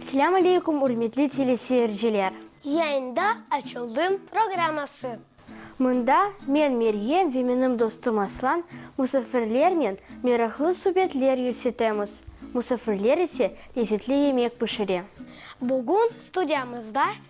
Selâm aleykum ürmetli teleseyirciler. Yayında açıldım programması. Mında men Meryem ve menim dostum Aslan musafirlernen meraqlı subetler yürsetemiz, musafirler ise lezzetli yemek pişire. Bugün studiyamızda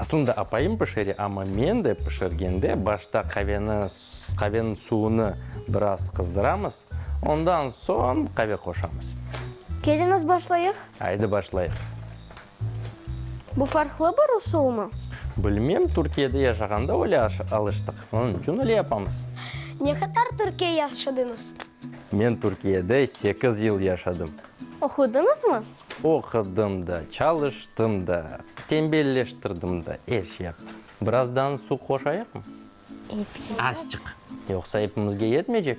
Aslında apayım pişire, amma men de pişirgende başta qaveni, qaveniñ suvunı biraz qızdıramız, ondan soñ qave qoşamız. Keliñiz başlayıq. Aydı başlayıq. Bu farqlı bir usulmı? Bilmem, Türkiyede yaşağanda öyle alıştıq, onıñ içün öyle yapamız. Ne qadar Türkiye yaşadıñız? Men Türkiyede sekiz yıl yaşadım. Oqudıñız mı? Oqudım da, çalıştım da, tembelleştirdim da, er şey yaptım. Birazdan su qoşayıq mı? Epiyat. Azçıq. Yoqsa epimizge yetmeycek.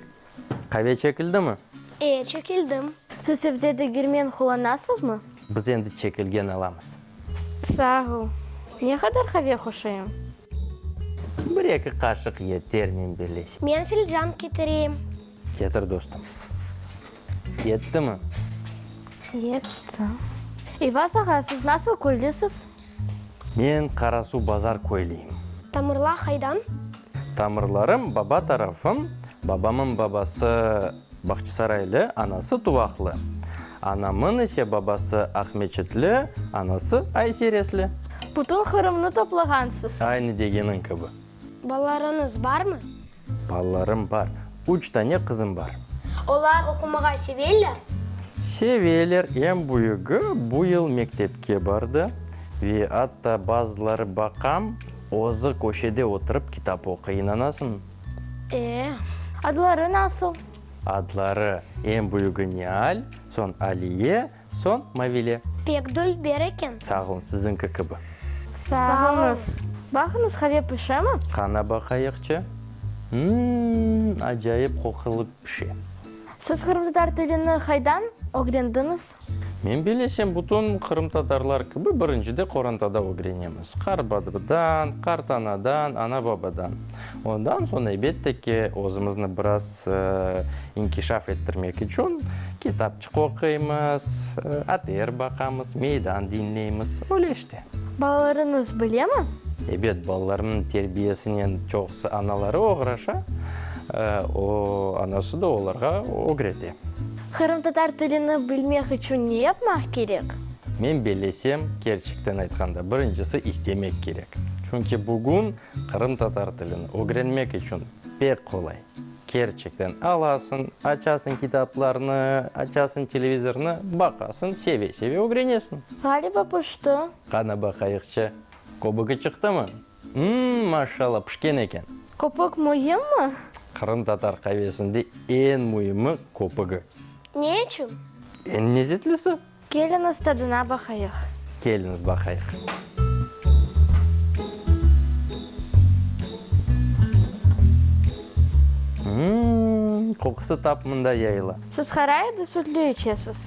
Qave çekildimi? E, çekildim. Siz evde de girmen qullanasız mı? Biz endi çekilgen alamız. Sağ ol. Ne qadar qave hoşayım? Bir-eki qaşıq yeter, men beleş. Men filcan ketireyim. Ketir, dostum. Yettimi? Yetti. İvas ağa, siz nasıl köylüsiz? Men Qarasuv Bazar köylüyim. Tamırla haydan? Tamırlarım, baba tarafım, babamın babası. Bağçasaraylı, anası Tuvaqlı. Anamın ise babası Aqmeçitli, anası Ayseresli. Bütün Qırımnı toplağansız. Aynı degeniñ kibi. Balalarıñız barmı? Balalarım bar. Üç tane qızım bar. Olar oqumağa seveler? Seveler. Eñ büyügi bu yıl mektepke bardı ve atta bazıları baqam, özü köşede oturıp kitap oquy, inanasıñmı? Ee, adları nasıl? Adları, eñ büyügi Nial, soñ Aliye, soñ Mavile. Pek dülber eken. Sağ olun, siziñki kibi. Sağ olunız. Baqıñız, qave pişemi? Qana baqayıqçı. Imm, acayip qoqulı pişe. Siz qırımtatar tilini qaydan ögrendiñiz? Men bilesem, bütün qırımtatarlar kibi birinci de qorantada ögrenemiz, qarbadıdan, qartanadan, ana-babadan. Ondan soñ, elbette ki, özümizni biraz inkişaf ettirmek içün kitapçıq oquymız, ater baqamız, meydan diñleymiz, öyle işte. Balalarıñız bilemi? Ebet, balalarımnıñ terbiyesinen çoqusı anaları oğraşa, o, anası da olarğa ögrete. Qırımtatar tilini bilmek içün ne yapmaq kerek? Men bellesem, kerçekten aytqanda, birincisi istemek kerek. Çünki bugün qırımtatar tilini ögrenmek içün pek qolay. Kerçekten alasıñ, açasıñ kitaplarnı, açasıñ televizornı, baqasıñ, seve-seve ögrenesiñ. Ğaliba pişti. Qana baqayıqçı, köbügi çıqtımı? Mmm, maşşalla, pişken eken. Köpük müimmi? Qırım tatar qavesinde eñ müimmi köpügi. Ne içün? Eñ lezetlisi. Keliñiz tadına baqayıq. Keliñiz baqayıq. Mmm, qoqusı tap mında yayıla. Siz qaray ya da sütlü içesiz?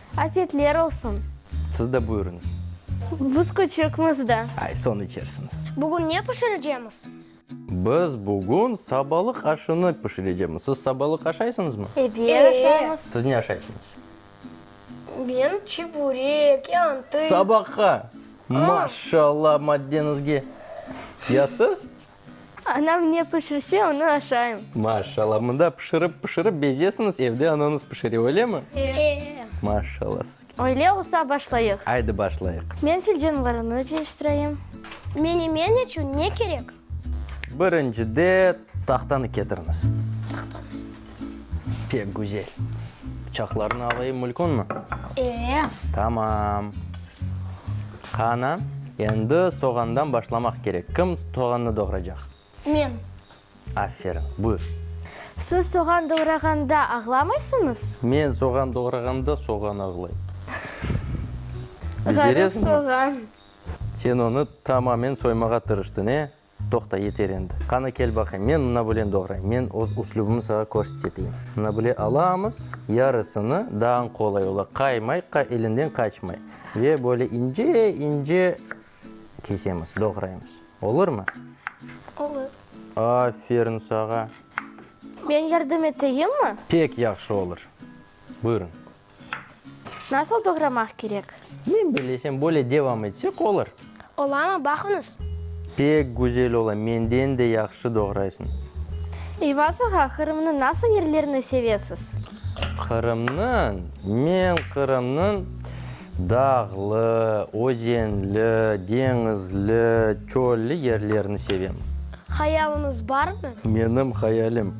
Afiyetler olsun! Siz de buyurıñız. Biz küçükmiz da. Ay, soñ içersiñiz. Bugün ne pişireceğimiz? Biz bugün sabalıq aşını pişireceğimiz. Siz sabalıq aşaysıñızmı? Ebet, aşaymız. Siz ne aşaysıñız? Ben çiburek, yantı. Sabahqa! Maşallah, maddeñizge! Ya siz? Anam ne pişirse, onı aşayım. Maşallah, mında pişirip pişirip bezesiñiz, evde anañız pişire, öylemi? E. Maşallah sizge. Öyle olsa başlayıq. Aydı başlayıq. Men fil canavarını cıyıştırayım. Menemen içün ne kerek? Birinci de tahtanı ketiriñiz. Tahtanı. Pek güzel. Bıçaqlarını alayım, mülkünmi? Ee. Tamam. Qana, endi soğandan başlamaq kerek. Kim soğannı doğracaq? Men. Aferin, buyur. Siz soğan doğrağanda ağlamaysıñız? Men soğan doğrağanda soğan ağlay. Beceresiñmi? Soğan. Sen onı tamamen soymağa tırıştıñ, e? Toqta, yeter endi. Qana, kel baqayım, men mına bılen doğrayım, men öz üslübimni sağa körseteteyim. Mına bıle alamız, yarısını dağın qolay ola, qaymay, qa, elinden qaçmay. Ve böyle ince, ince kesemiz, doğraymız. Olurmı? Olur. Aferin sağa. Men yardım eteyimmi? Pek yahşı olur. Buyurıñ. Nasıl doğramaq kerek? Men bilesem, böyle devam etsek olur. Olamı, baqıñız. Pek güzel ola, menden de yahşı doğraysıñ. Eyva saha, Qırımnıñ nasıl yerlerini sevesiz? Qırımnıñ? Men Qırımnıñ dağlı, özenli, deñizli, çölli yerlerini sevem. Hayalıñız barmı? Menim hayalim,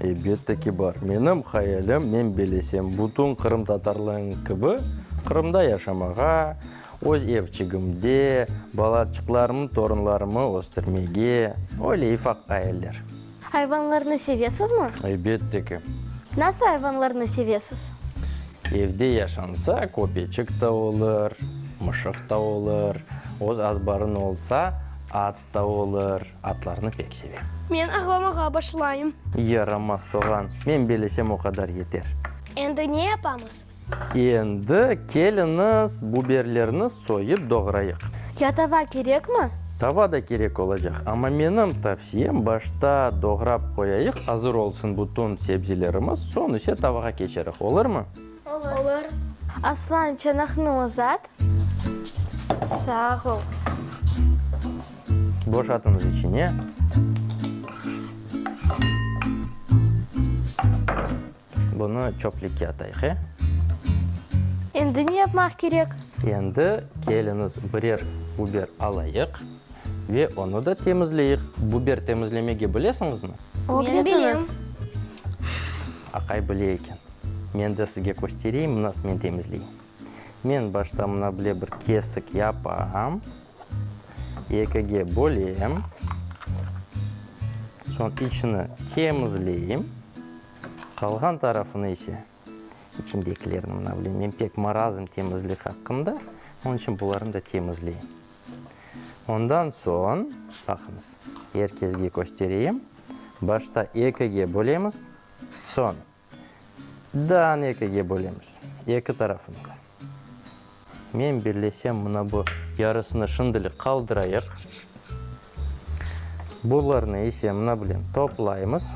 Elbette ki, bar. Menim hayalim, men belesem, bütün qırımtatarlarnıñ kibi, Qırımda yaşamağa, öz evçigimde, balaçıqlarımnı, torunlarımı östürmege. Öyle ifaq ayaller. Ayvanlarnı sevesizmi? Elbette ki. Nasıl ayvanlarnı sevesiz? Evde yaşansa, köpeçik ta olur, mışıq ta olur. Öz azbarıñ olsa, at Tavuk olur, atlarnı pek sevem. Men ağlamağa başlayım. Yaramaz soğan, men belesem o qadar yeter. Endi ne yapamız? Endi keliñiz, buberlerni soyıp doğrayıq. Ya tava kerekmi? Tava da kerek olacaq, amma menim tavsiyem, başta doğrap qoyayıq, azır olsun bütün sebzelerimiz, soñ ise tavağa keçeriq, olurmı? Olur. Aslan, çanaqnı uzat. Sağ ol. Boşatıñız içine. Bunı çöplükke atayıq, e? Endi ne yapmaq kerek? Endi keliñiz birer buber alayıq ve onı da temizleyik. Buber temizlemege bilesiñizmi? Ögretiniz. Aqay bile eken. Men de sizge köstereyim, nas men temizley. Men başta mına bile bir kesik yapam, ekige bölem, soñ içini temizleyim, qalğan tarafını ise, içindekilerni mına bile, men pek marazım temizlik aqqında, onıñ içün bularnı da temizleyim. Ondan soñ, baqıñız, er kesge köstereyim, başta ekige bölemiz, soñ Dağnı ekige bölemiz, eki tarafını da. Men birlesem, mına bu yarısını şimdilik qaldırayıq. Bularnı ise mına bilen toplaymız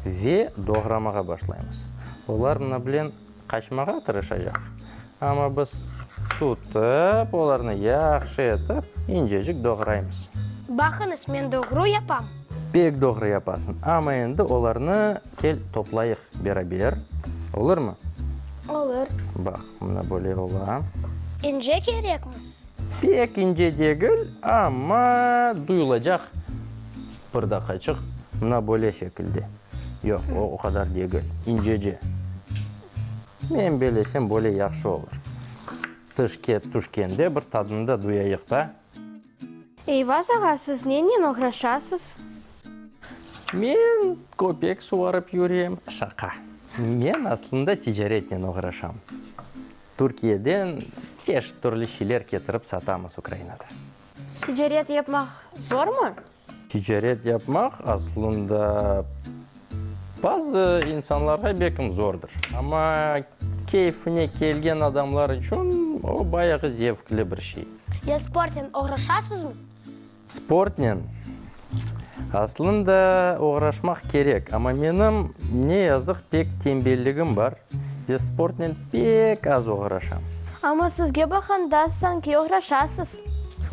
ve doğramağa başlaymız. Olar mına bilen. Qaçmağa tırışacaq, amma biz tutıp, olarnı yahşı etip, incecik doğraymız. Baqıñız, men doğru yapam. Pek doğru yapasıñ, amma endi olarnı kel toplayıq beraber, olurmı? Olur. Baq, mına böyle ola. İnce kerekmi? Pek ince degil, amma duyulacaq pırdaqaçıq, mına böyle şekilde. Yoq, o, o qadar degil. İncece. Men belesem, böyle yahşı olur. Tış ket, tuş kende bir tadını da duyayıq da. Eyvaz ağa, siz nennen oğraşasız? Men köpek suvarıp yürem. Şaqa. Men aslında ticaretnen oğraşam. Türkiyeden çeşit türlü şeyler ketirip satamız Ukrainada. Ticaret yapmaq zormı? Ticaret yapmaq aslında bazı insanlarğa bekim zordur, amma keyfine kelgen adamlar içün o bayağı zevkli bir şey. Ya sportnen oğraşasızmı? Sportnen aslında oğraşmaq kerek, amma menim ne yazıq pek tembelligim bar ve sportnen pek az oğraşam. Amma sizge baqanda sanki oğraşasız.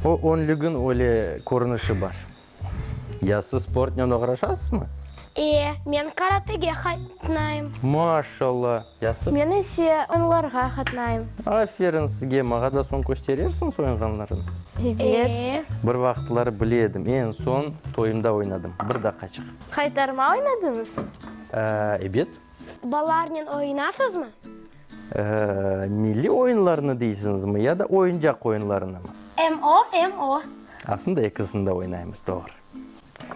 O önlügin öyle körünişi bar. Ya siz sportnen oğraşasızmı? Ee, men karatege qatnayım. Maşallah! Ya siz? Men ise oyunlarğa qatnayım. Aferin sizge! Mağa da soñ kösterersiñiz oyunğanlarıñız? Ebet. Ee. Bir vaqıtları bile edim, eñ soñ toyumda oynadım. Bir daqaçıq. Qaytarma oynadıñız? Ebet. Balalarnen oyunasızmı? Milliy oyunlarnı deysiñizmi ya da oyuncaq oyunlarınımı? Em o, em o. Aslında ekisini de oynaymız, doğru.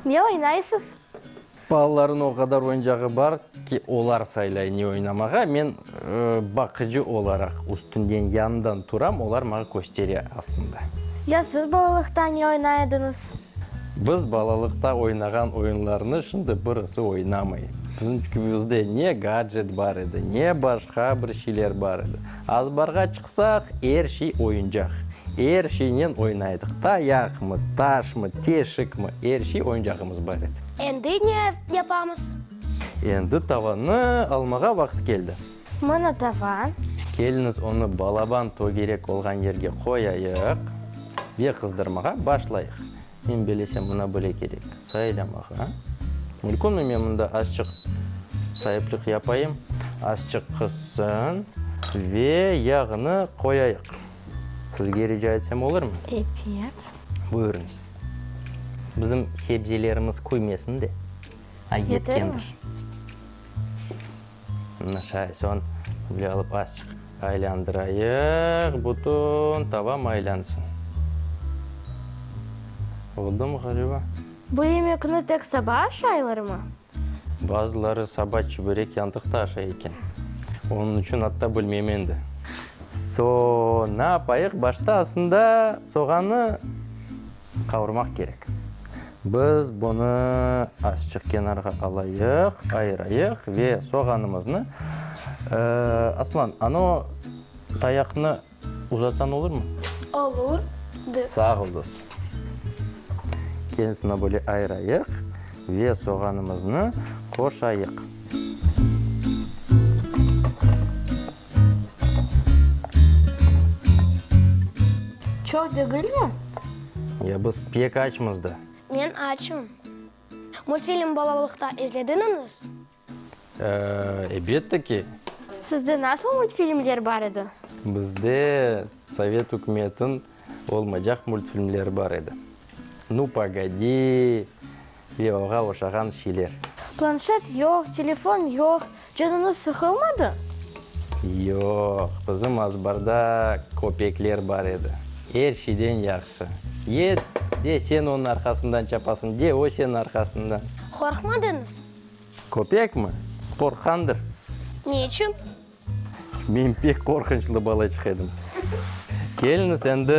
Ne oynaysız? Balalarnıñ o qadar oyuncağı bar ki, olar saylay ne oynamağa, men baqıcı olaraq üstünden, yanından turam, olar maña köstere aslında. Ya siz balalıqta ne oynay ediñiz? Biz balalıqta oynağan oyunlarnı şimdi birisi oynamay. Bizim çükümizde ne gadjet bar edi, ne başqa bir şeyler bar edi. Azbarğa çıqsaq, er şey oyuncaq. Er şeynen oynaydıq. Tayaqmı, taşmı, teşikmi, er şey oyuncağımız bar edi. Endi ne yapamız? Endi tavanı almağa vaqıt keldi. Mına tava. Keliniz onı balaban tögerek olğan yerge qoyayıq ve qızdırmağa başlayıq. Men belesem, mına böyle kerek, sayılamağa. Mülkümi men mında azçıq saiplik yapayım, azçıq qızsın ve yağını qoyayıq. Sizge rica etsem olırmı? Epet. Buyurıñız. Bizim sebzelerimiz kuymesin de, a yetkendir. Yetermi? Nişay, soñ böyle alıp azçıq aylandırayıq, bütün tava maylansın. Oldumı ğaliba? Bu yemekni tek saba aşaylarmı? Bazıları saba çüberek yantıq da aşay eken. Onıñ içün atta bilmem endi. Soñ ne yapayıq? Başta asında soğannı Qavurmaq kerek. Biz bunı azçıq kenarğa alayıq, ayırayıq ve soğanımıznı, Aslan, ano tayaqnı uzatsan olurmı? Olur. Sağ ol, dostum. Kelisini böyle ayırayıq ve soğanımıznı qoşayıq. Çoq degilmi? Ya, biz pek açmız da. Men açım. Multfilm balalıqta izlediñiz? Ebette ki. Sizde nasıl multfilmler bar edi? Bizde sovet ükümetin olmaycaq multfilmler bar edi. Nu, pogodi! Levavğa oşağan şiler. Planşet yoq, telefon yoq. Canıñız sıqılmadı? Yoq, bizim azbarda köpekler bar edi. Er şeyden yahşı. Ye, de sen onıñ arqasından çapasıñ, de o seniñ arqasından. Qorqmadıñız? Köpekmi? Qorqqandır. Ne içün? Men pek qorqunçlı balaçıq edim. Keliniz, endi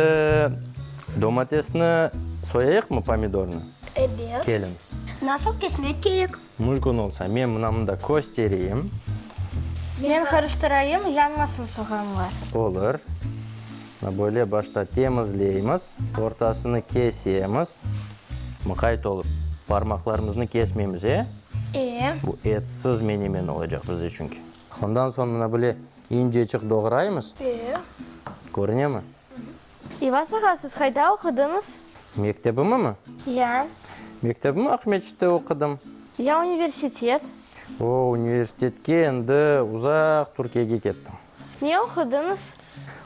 domatesni soyayıqmı, pomidornı? Ebet. Keliniz. Nasıl kesmek kerek? Mülkün olsa, men mına mında köstereyim. Men qarıştırayım, yanmasın soğanlar. Olur. Mına böyle başta temizleymiz, ortasını kesemiz. Mıqayt olıp, parmaqlarımıznı kesmeymiz, e? E. Bu etsiz menemen olacaq bizde çünki. Ondan soñ mına bile inceçik doğraymız. Eee. Körünemi? İvas ağa, siz qayda oqudıñız? Mektebimimi? Ya. Mektebimi Aqmescitte oqudım. Ya universitet? O, universitetke endi uzaq Türkiyege kettim. Ne oqudıñız?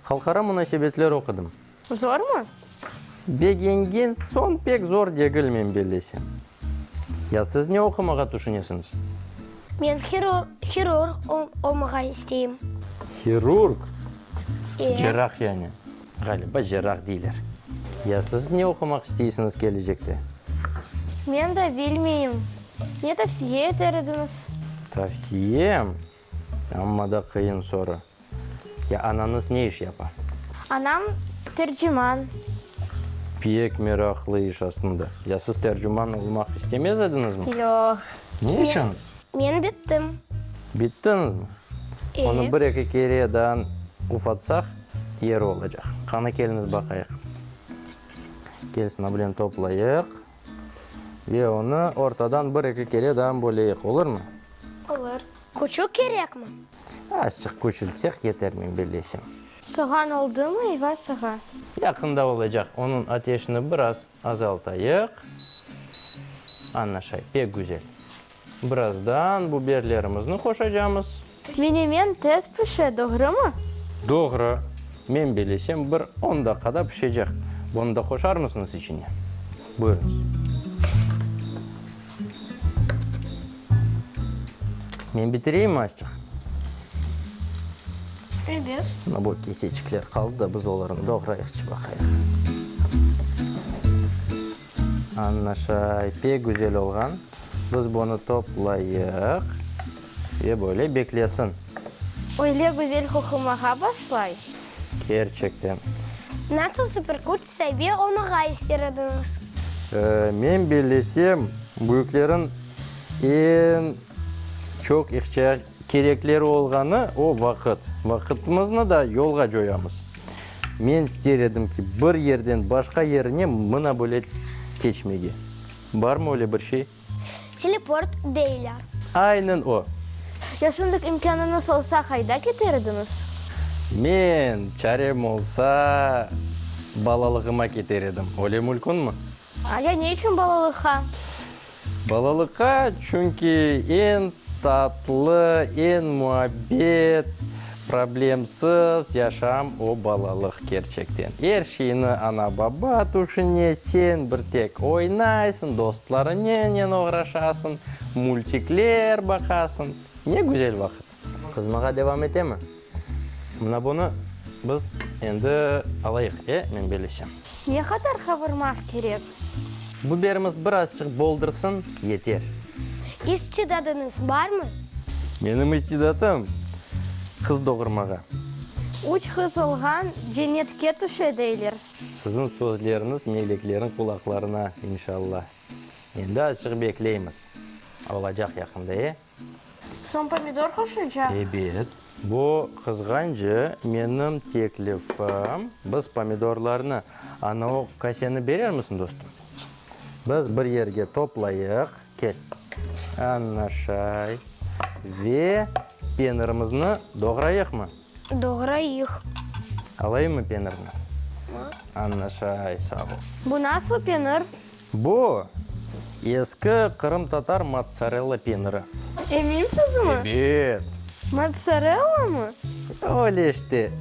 Halqara munasebetler oqudım. Zormı? Begengen soñ pek zor degil, men bellesem. Ya siz ne oqumağa tüşünesiñiz? Men hirurg olmağa isteyim. Hirurg? E. Cerrah yani. Ğaliba cerrah deyler. Ya siz ne oqumaq isteysiñiz kelecekte? Men de bilmeyim. Ne tavsiye eter ediñiz? Tavsiyem? Amma da qıyın soru. Ya anañız ne iş yapa? Anam, terciman. Pek meraqlı iş aslında. Ya siz terciman olmaq istemez ediñizmi? Yoq. Ne içün? Men bittim. Bittiñizmi? E. Onı bir-eki kere daa ufatsaq, yeri olacaq. Qani, keliñiz baqayıq. Kel sınableni toplayıq. Ve onı ortadan bir-eki kere daa böleyik, olurmı? Olur. Küçük kerekmi? Azçıq küçültsek yeter, men bellesem. Soğan oldımı, eyva sağa! Yaqında olacaq, onıñ ateşini biraz azaltayıq. Ana şay, pek güzel. Birazdan biberlerimizni qoşacamız. Menemen tez pişe, doğrumı? Doğru. Men belesem, bir on daqqada pişecek. Bunı da qoşarmısıñız içine? Buyurıñız. Men bitireyim, Astik? Evet. Mına bu keseçikler qaldı da, biz olarnı doğrayıqçı baqayıq. Annaşa, pek güzel olğan. Biz bunı toplayıq ve böyle beklesin. Öyle güzel qoqumağa başlay. Kerçekten. Nasıl superküç sabi olmağa ister ediñiz? Men bellesem, büyüklerin en çoq ihtiyac, kerekleri olğanı o vaqıt. Vaqıtımıznı da yolğa coyamız. Men ister edim ki, bir yerden başqa yerine mına böyle keçmege. Barmı öyle bir şey? Teleport deyler. Aynen o. Ya şundık imkânıñız olsa, qayda keter ediñiz? Men, çarem olsa, balalığıma keter edim. Öyle mülkünmi? Ya ne içün balalıqqa? Balalıqqa, çünki eñ tatlı, eñ muabbet, problemsız yaşam o balalıq kerçekten. Er şeyni ana-baba tüşüne, sen bir tek oynaysıñ, dostlarıñnen oğraşasıñ, multikler baqasıñ. Ne güzel vaqıt! Qızmağa devam etemi? Mına bunı biz endi alayıq, e, men belesem. Ne qadar qavurmaq kerek? Biberimiz birazçıq boldırsın, yeter. İstidadıñız barmı? Menim istidatım, qız doğurmağa. Üç qız olğan cennetke tüşe, deyler. Siziñ sözleriñiz meleklerin qulaqlarına, inşalla. Endi azçıq bekleymiz. Olacaq yaqında, e? Soñ pomidor qoşacaq? Ebet. Bu qızğancı menim teklifim. Biz pomidorlarnı ana o kaseni berermisin, dostum? Biz bir yerge toplayıq, kel. Ana şay. Ve penirimizni doğrayıqmı? Doğrayıq. Alayım mı penirni? Ma. Anlaşay, sağ ol. Bu nasıl penir? Bu, eski qırımtatar motsarella peniri. Eminsiz mi? Ebet. Motsarella mı? Öyle işte.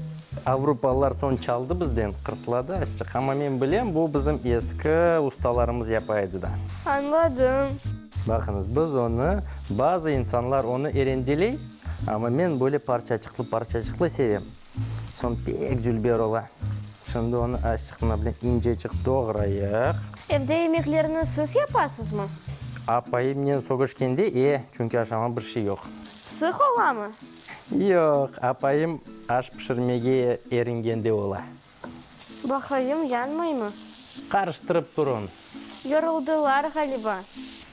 Avrupalılar soñ çaldı bizden, qırsladı azçıq. Amma men bilem, bu bizim eski ustalarımız yapa edi da. Añladım. Baqıñız, biz onı, bazı insanlar onı erendeley. Amma men böyle parçaçıqlı-parçaçıqlı sevem. Soñ pek cülber ola. Şimdi onı aşçıqna bilen inceçik doğrayıq. Evde yemeklerni siz yapasızmı? Apayımnen sögüşkende, e, çünki aşamağa bir şey yoq. Sıq olamı? Yoq, apayım aş pişirmege eringende ola. Baqayım, yanmaymı? Qarıştırıp turıñ. Yoruldılar ğaliba.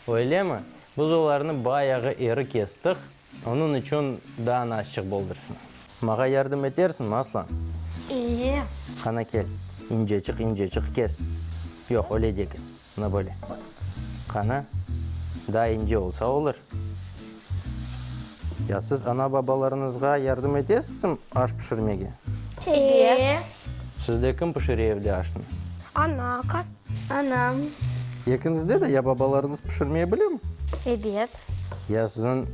Öylemi? Biz olarnı bayağı eri kestiq, onıñ içün daa naşçıq boldırsın. Mağa yardım etersiñmi, Aslan? İye. Qana kel, inceçiq-inceçiq kes. Yoq, öyle degil. Ne böyle? Qanı daa ince olsa olur. Ya siz ana-babalarıñızğa yardım etesizmi aş pişirmege? Eee. Sizde kim pişire evde aşnı? Ana, aka. Anam. Ekiñizde de ya babalarıñız pişirmey bilemi? Ebet. Ya siziñ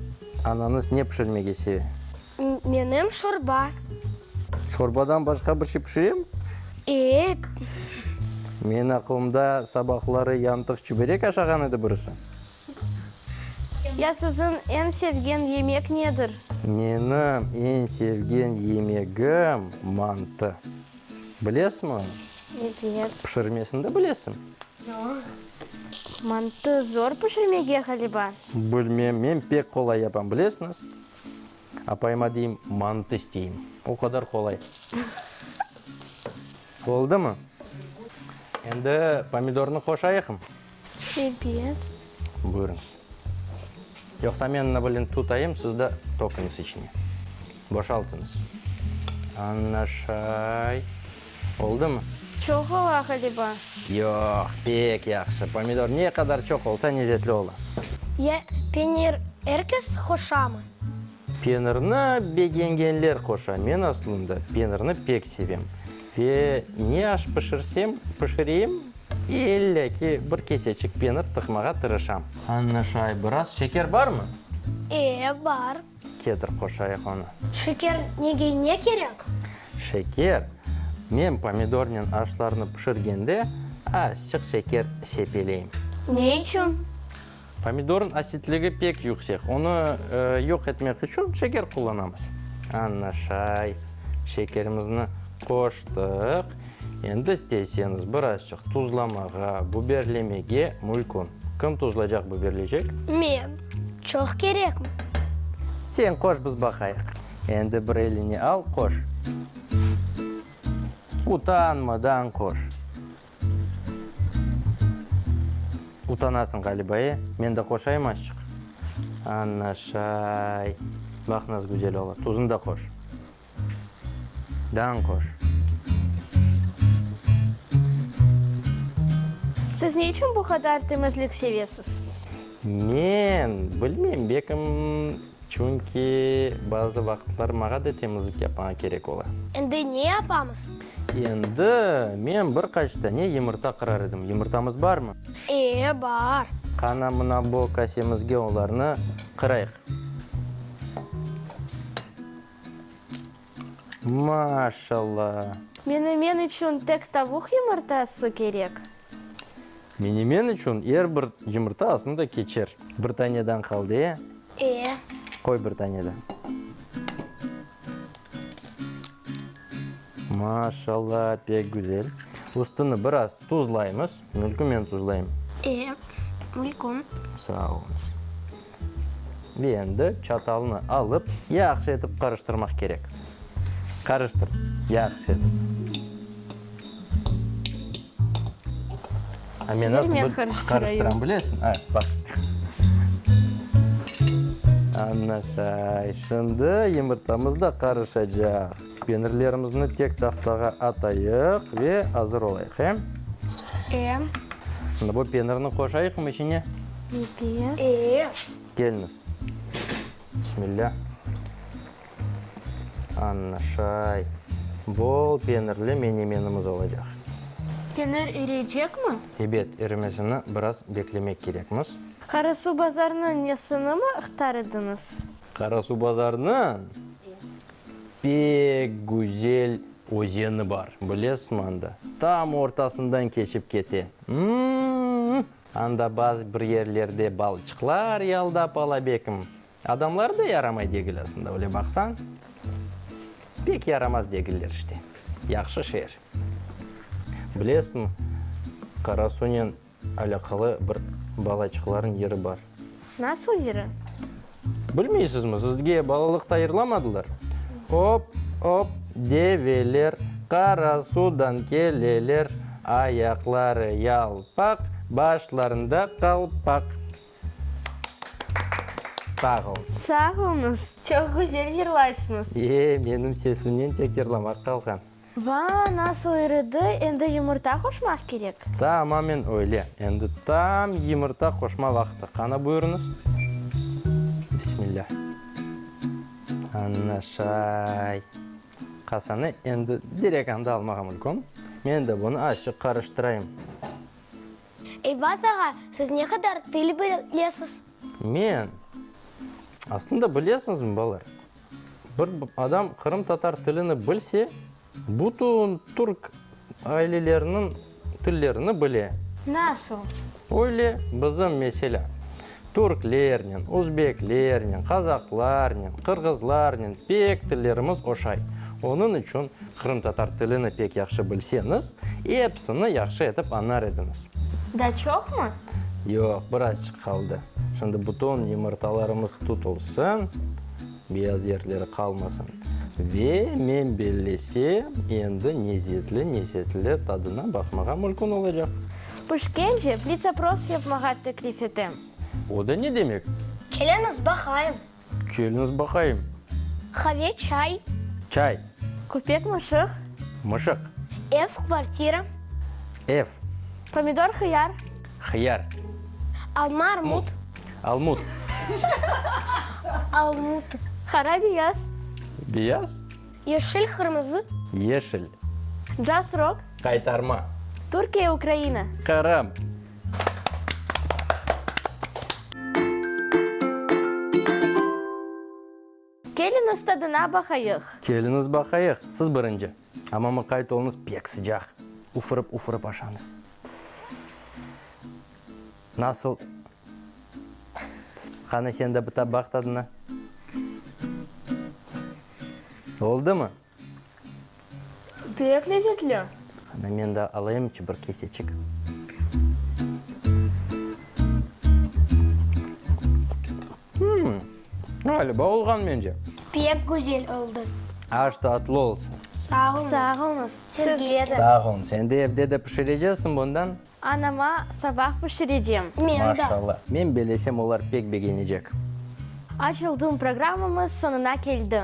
anañız ne pişirmege seve? Menim şorba. Şorbadan başqa bir şey pişirem? Eep. Menim aqılımda sabahları yantıq çüberek aşağan edi birisi. Ya siziñ eñ sevgen yemek nedir? Menim eñ sevgen yemegim mantı. Bilesiñ onı? Evet. Pişirmesini de bilesiñ? Yoq. Mantı zor pişirmege ğaliba. Bilmem, men pek qolay yapam, bilesiñiz? Apayıma deyim, mantı isteyim. O qadar qolay. Oldımı? Endi pomidornı qoşayıqmı? Ebet. Buyurıñız. Yoqsa men nabılen tutayım, siz de toqunız içine. Boşaltıñız. Ana şay. Oldımı? Çoq ola ğaliba. Yoq, pek yahşı. Pomidor ne qadar çoq olsa, nezetli ola. Ya penir er kes qoşamı? Penirni begengenler qoşa. Men aslında penirni pek sevem. Ve ne aş pişirsem, pişireyim, illa ki bir keseçik penir tıqmağa tırışam. Anlaşay. Biraz şeker barmı? E, bar. Kedr qoşayıq onı. Şeker nege ne kerek? Şeker? Men pomidornen aşlarnı pişirgende azçıq şeker sepeleyim. Ne içün? Pomidornıñ asitligi pek yüksek, onı yoq etmek içün şeker qullanamız. Añaşay, şekerimizni qoştıq. Endi isteyseniz birazçıq tuzlamağa, buberlemege mülkün. Kim tuzlaycaq, buberleycek? Men. Çoq kerekmi? Sen qoş, biz baqayıq. Endi bir eline al, qoş. Utanmadan qoş. Utanasıñ ğaliba, e? Men de qoşayım azçıq? Anaşay. Baq, nasıl güzel ola. Tuzun da qoş. Dan qoş. Siz ne içün bu qadar temizlik sevesiz? Men, bilmem, bekim, çünki bazı vaqıtlar mağa da temizlik yapmağa kerek ola. Endi ne yapamız? Endi, men bir qaç dane yımırta qırar edim. Yımırtamız barmı? Ee, bar. Qana, mına bu kasemizge olarnı qırayıq. Maşallah! Menemen içün tek tavuq yımırtası kerek? Menemen içün er bir yımırta aslında keçer. Bir taneden qaldı, e? Ee. Qoy bir tane de. Maşallah, pek güzel. Üstüni biraz tuzlaymız. Mülkü men tuzlayım. Ee, mülküm. Sağ olunız. Ve endi çatalnı alıp, yahşı etip qarıştırmaq kerek. Qarıştır, yahşı etip. A men nasıl bil qarıştıram bilesiñ? A, baq. Ana şay, şimdi yımırtamız da qarışacaq. Penirlerimizni tek tahtağa atayıq ve azır olayıq, he? Em. Şimdi bu penirni qoşayıqmı içine? Ebet. Ee. Keliniz. Bismillah. Ana şay. Bol penirli menemenimiz olacaq. Penir iriycekmi? Ebet, irimesini biraz beklemek kerekmiz. Qarasuvbazarnıñ nesinimi ıhtar ediñiz? Qarasuvbazarnıñ? Pek güzel özeni bar, bilesizmi, anda, tam ortasından keçip kete. M-m-m! Anda bazı bir yerlerde balçıqlar yaldap ala bekim. Adamları da yaramay degil aslında, öyle baqsañ. Pek yaramaz degiller işte. Yahşı şeer. Bilesizmi, Qarasunen Alâqalı bir balaçıqlarnıñ yeri bar. Nasıl yeri? Bilmeysizmi? Sizge balalıqta yırlamadılar? Op, op, develer Qarasudan keleler, Ayaqları yalpaq, başlarında qalpaq. Sağ olun. Sağ oluñız. Çoq güzel yırlaysıñız. E, menim sesimnen tek yırlamaq qalğan. Vaa, nasıl iridi, endi yumurta qoşmaq kerek. Tamamen öyle, endi tam yımırta qoşma vaqtı, qana buyurıñız. Bismilâ. Anna şay. Qasanı endi direk anda almağa mülküm. Men de bunı azçıq qarıştırayım. Eyvaz ağa, siz ne qadar til bilesiz? Men? Aslında bilesiñizmi, balar, Bir adam qırımtatar tilini bilse, bütün türk aileleriniñ tillerini bile. Nasıl? Öyle, bizim, meselâ, türklernen, özbeklernen, qazaqlarnen, qırğızlarnen pek tillerimiz oşay. Onıñ içün qırımtatar tilini pek yahşı bilseñiz, episini yahşı etip añar ediñiz. Da çoqmı? Yoq, birazçıq qaldı. Şimdi bütün yımırtalarımız tutulsın. Beyaz yertleri qalmasın. Ve men bellesem, endi nezzetli-nezzetli tadına baqmağa mülkün olacaq. Pişkence blitz-opros yapmağa teklif etem. O da ne demek? Keliñiz baqayım. Keliñiz baqayım. Qave, çay. Çay. Köpek, mışıq. Mışıq. Ev, kvartira. Ev. Pomidor, hıyar. Hıyar. Alma, armut. Almut. Almut. Qara beyaz. Beyaz. Yeşil qırmızı. Yeşil. Caz rock. Qaytarma. Türkiye Ukraina. Qırım. Keliñiz tadına baqayıq. Keliñiz baqayıq, siz birinci. Amma mıqayt oluñız, pek sıcaq. Ufırıp-ufırıp aşañız. Tıs-s-s. Nasıl? Qanı, sen de bir baq tadına. Oldımı? Pek lezetli. Ana men de alayım bir keseçik. Hımm, ğaliba olğan mence. Pek güzel oldı. Aş tatlı olsun. Sağ olunız. Sağ olunız. Sizge de. Sağ olun. Sen de evde de pişireceksin bundan? Anama sabah pişirecem. Men de. Maşallah. Men belesem olar pek begenecek. Aç oldum programımız soñuna keldi.